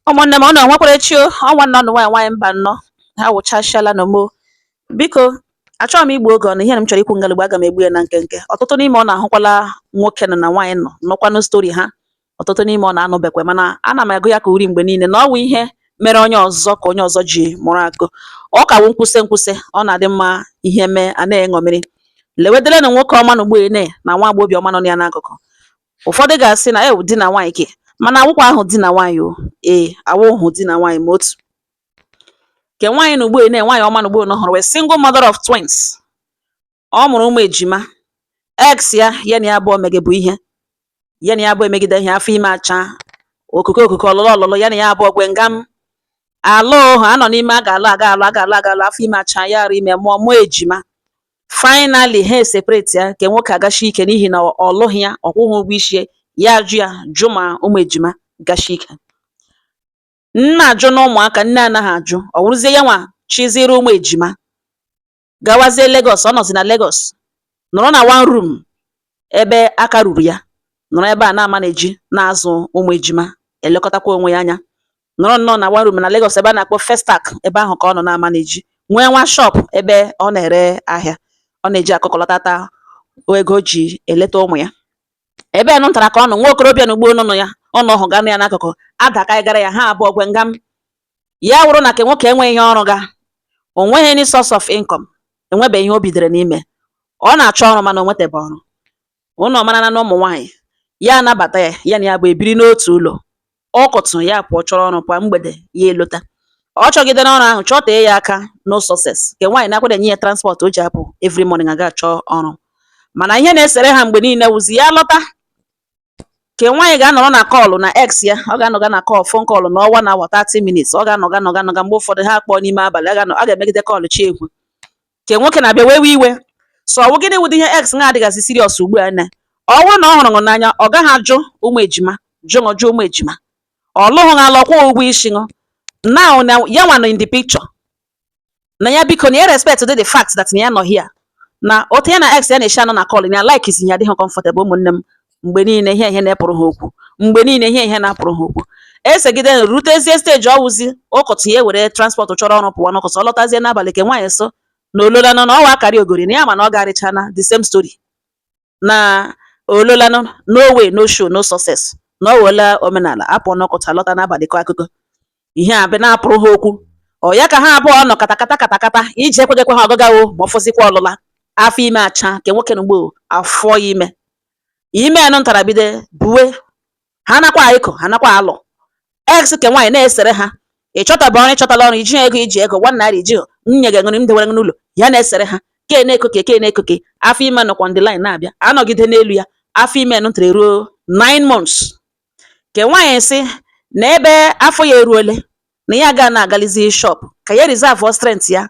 ụmụnne m ụnụ enwekwara echi o ọ nwanne ụnụ nwaanyị nwaanyị Mbanọ ha wụchasịala na mo biko achọghị m igbu oge ụnụ ihe na m chọrọ ikwu ngalugbo aga m egbu ya na nkenke ọtụtụ n'ime ụnụ ahụkwala nwoke nọ na nwaanyị nọ nụkwanụ story ha ọtụtụ n'ime ụnụ anụbekwa mana ana m agụ ya ka uri mgbe niile na ọ wụ ihe mere onye ọzọ ka onye ọzọ ji mụrụ akọ ọ ka wụ nkwụsị nkwụsị ọ na-adị mma ihe mee a na-eṅomiri lewedelenụ nwoke ọma na ugbene na nwa agbọghọbịa ọma nọ ya n'akụkụ ụfọdụ ga-asị na ọ wụ di na nwaanyị ke mana awụkwahụ di na nwaanyị o ee awụhụ di na nwaanyị ma otu ke nwaanyị na ugbo na nwaanyị ọma na ugbo ụnụ hụrụ wụ single mother of twins ọ mụrụ ụmụ ejima ex ya ya na ya abụọ megebu ihe ya na ya abụọ emegide ihe afọ ime acha okoko okoko ọlụlụ ọlụlụ ya na ya abụọ gwe ngam alụha a nọ n'ime a ga-alụ a ga-alụ a ga-alụ a ga-alụ afọ ime acha ya arụ ime mụọ ụmụ ejima Finally ha eseparate ya ke nwoke agashi ike n'ihi na ọ lụghị ya, ọ kwụghị ụgwọ isi ya, ya ajụ ya jụ ma ụmụ ejima gashi ike. Nna ajụ na ụmụaka, nne anaghị ajụ, ọ wụrụzie ya nwa chịzịrị ụmụ ejima gawazie Lagos, ọ nọzi na Lagos nọrọ na one room ebe aka ruru ya, nọrọ ebe a na-amanage na-azụ ụmụ ejima, elekọtakwa onwe ya anya. nọrọ nnọọ na one room na Lagos ebe a na-akpọ Festac ebe ahụ ka ọ nọ na-amanage nwee nwa shop ebe ọ na-ere ahịa ọ na-eji akụkọlọtata ego o ji eleta ụmụ ya ebe a nụtara ka ọ nọ nwa okorobịa na ugbo nọ ya ụnụ hụga nọ ya n'akụkụ adaka gara ya ha abụọ gwe ngam ya wụrụ na ke nwoke enweghị ihe ọ rụga o nweghị any source of income enwebeghị ihe o bidere n'ime ọ na-achọ ọrụ mana o nwetebe ọrụ ụnụ marana na ụmụ nwaanyị, ya anabata ya, ya na ya abụọ ebiri n'otu ụlọ. Ụkọtụ, ya pụọ chọrọ ọrụ kwa mgbede, ya elota. Ọ chọgidere ọrụ ahụ, chọtee ya aka, no success. Ke nwaanyị na-akwada enye ya transport o ji apụ every morning aga achọ ọrụ. Mana ihe na-esere ha mgbe niile wụzi ya lọta, ke nwaanyị ga-anọrọ na call na ex ya, ọ ga-anọga na call, phone call nọọ one hour, 30 minutes, ọ ga-anọga nọga nọga mgbe ụfọdụ ha akpọọ n'ime abalị, a ga-anọ, a ga-emegide call chi ehwe. ke nwoke na-abịa wewe iwe sị ọ wụ gịnị wụdị ihe ex nwa adịgazị serious ugbu a na ọ bụrụ na ọ hụrụ ṅụ n'anya ọ gaghị ajụ ụmụ ejima jụ ṅụ jụ ụmụ ejima ọ lụghị ṅụ alụ kwụọ ụgwọ isi ṅụ now na ya nwa nọ in the picture na ya biko na ya respect dị the fact that na ya nọ here na otu ya na ex ya na-eshi anọ na call na ya likezighi ya adịghị comfortable ụmụnne m mgbe niile ihe ihe na-epụrụ ha okwu mgbe niile ihe ihe na-apụrụ ha okwu esegide rutezie stage ọ wụzi ụkọtụ ya ewere transport chọrọ ọrụ pụwa n'ụkọtụ ọ lọtazie n'abalị ke nwaanyị sị na o lola nọ na ọ wụ akarịogori na ya ma na ọ garịchana the same story na o lola nọ no way no show no success na ọ wụla omenala apụ n'ụkọtụ alọta n'abalị kọ akụkọ ihe ahụ na-apụrụ ha okwu ọ ya ka ha abụọ nọ katakata katakata iji ekwegekwe ha ọgụgawo ma ọ fọzikwa ọlụla afọ ime acha ke nwoke na ugbo afọ ime ime nụ ntara bide buwe ha nakwa ịkọ ha nakwa alụ ex ke nwaanyị na-esere ha ị chọtaba ọrụ ị chọtala ọrụ i ji ego i ji ego one naira i ji nwunye gị ṅụrị m dewere gị n'ụlọ ya na-esere ha ke na-ekoke ke na-ekoke afọ ime nọkwa on the line na-abịa anọgide n'elu ya afọ ime nụ ntara eruo 9 months ke nwaanyị sị na ebe afọ ya eruole na ya ga na-agalizi shop ka ya reserve strength ya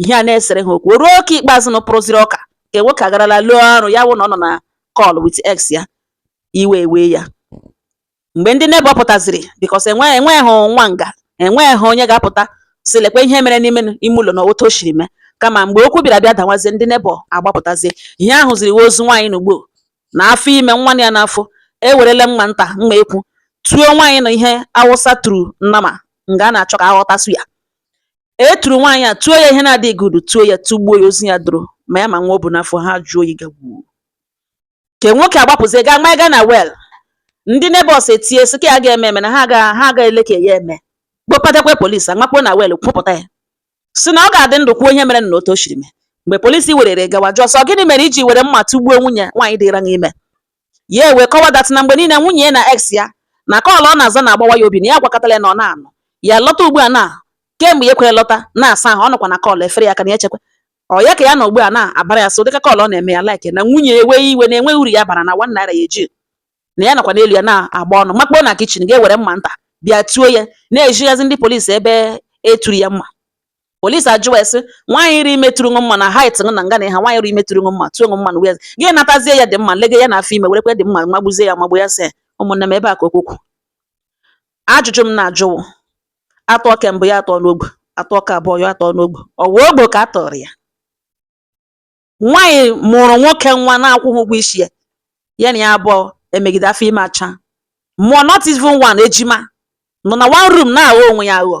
ihe a na-esere ha okwu ruo ke ikpeazụ na pụrụziri ọka ke nwoke agarala lụọ ọrụ ya wụ na ọ nọ na call with ex ya iwe ewe ya mgbe ndị neighbor pụtaziri because enwe enweghị nwa nga enweghị onye ga-apụta sị lekwa ihe mere n'ime ime ụlọ na otu o shiri mee kama mgbe okwu bịara bịa dawazie ndị neighbor agbapụtazie ihe a hụziri ozu nwaanyị na ugbo na afọ ime nwa ya n'afọ e werele mma nta mma ekwu tuo nwaanyị na ihe Awụsa turu nnama nga a na-achọ ka a ghọtasụ ya E turu nwaanyị a tuo ya ihe na-adịghị good tuo ya tugbuo ya ozu ya dọrọ ma ya ma nwa o bu n'afọ ha jụọ oyi gagbuo ke nwoke agbapụzie gaa maga na well ndị neighbors etie sị ka ya ga-eme eme na ha ga ha ga ele ka ya eme kpọpatakwa polisi amakpuo na well kupụta ya sị na ọ ga-adị ndụ kwuo ihe mere na otu o shiri mee mgbe polisi werere gawa jụọ sị ọ gịnị mere i ji were mma tugbuo nwunye nwaanyị dịra ime ya ewee kọwa that na mgbe niile nwunye ya na ex ya na call ọ na-aza na-agbawa ya obi na ya gwakatala ya na ọ na-anụ ya lọta ugbu a na kemgbe ya kwere lọta na-asa ahụ ọ nọkwa na call efere ya aka na ya chekwa ọ ya ka ya na ugbu a na-abara ya so dịka call ọ na-eme ya like na nwunye ya ewee iwe na enweghị uru ya bara na one naira ya eji na ya nakwa n'elu ya na-agba ọnụ makpuo na kitchen gaa were mma nta bịa tuo ya na-ezighazi ndị polisi ebe e turu ya mma Polisi ajụwa sị, nwaanyị dịrị ime turu mma na height na nga na ha nwaanyị dịrị ime turu mma tuo mma na wee gị natazie ya the mma lege ya na afọ ime werekwa the mma magbuzie ya magbu ya sị ụmụnne m ebe a ka okwu kwu ajụjụ m na-ajụ wụ a tụọ ke mbụ ya atọ n'ogbe a tụọ ke abụọ ya atọ n'ogbe ọ wụ ogbe ka a tọrọ ya nwaanyị mụrụ nwoke nwa na-akwụghị ụgwọ isi ya ya na ya abụọ emegide afọ ime acha mụọ not even one ejima nọ na one room na-aghọ onwe ya aghọ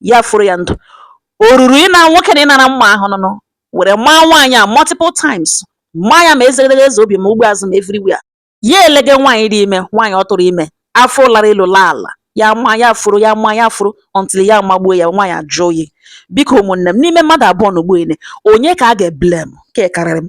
ya furu ya ndụ o ruru ịna nwoke na ịnara mma ahụ nụnụ were maa nwaanyị a multiple times maa ya ma ezegedege eze obi ma ugbo azụ ma everywhere ya elege nwaanyị dị ime nwaanyị ọ tụrụ ime afọ lara elu laa ala ya maa ya furu ya maa ya furu until ya magbuo ya nwaanyị ajụ oyi biko ụmụnne m n'ime mmadụ abụọ na ugbu a ele onye ka a ga-eblame ke a karịrị m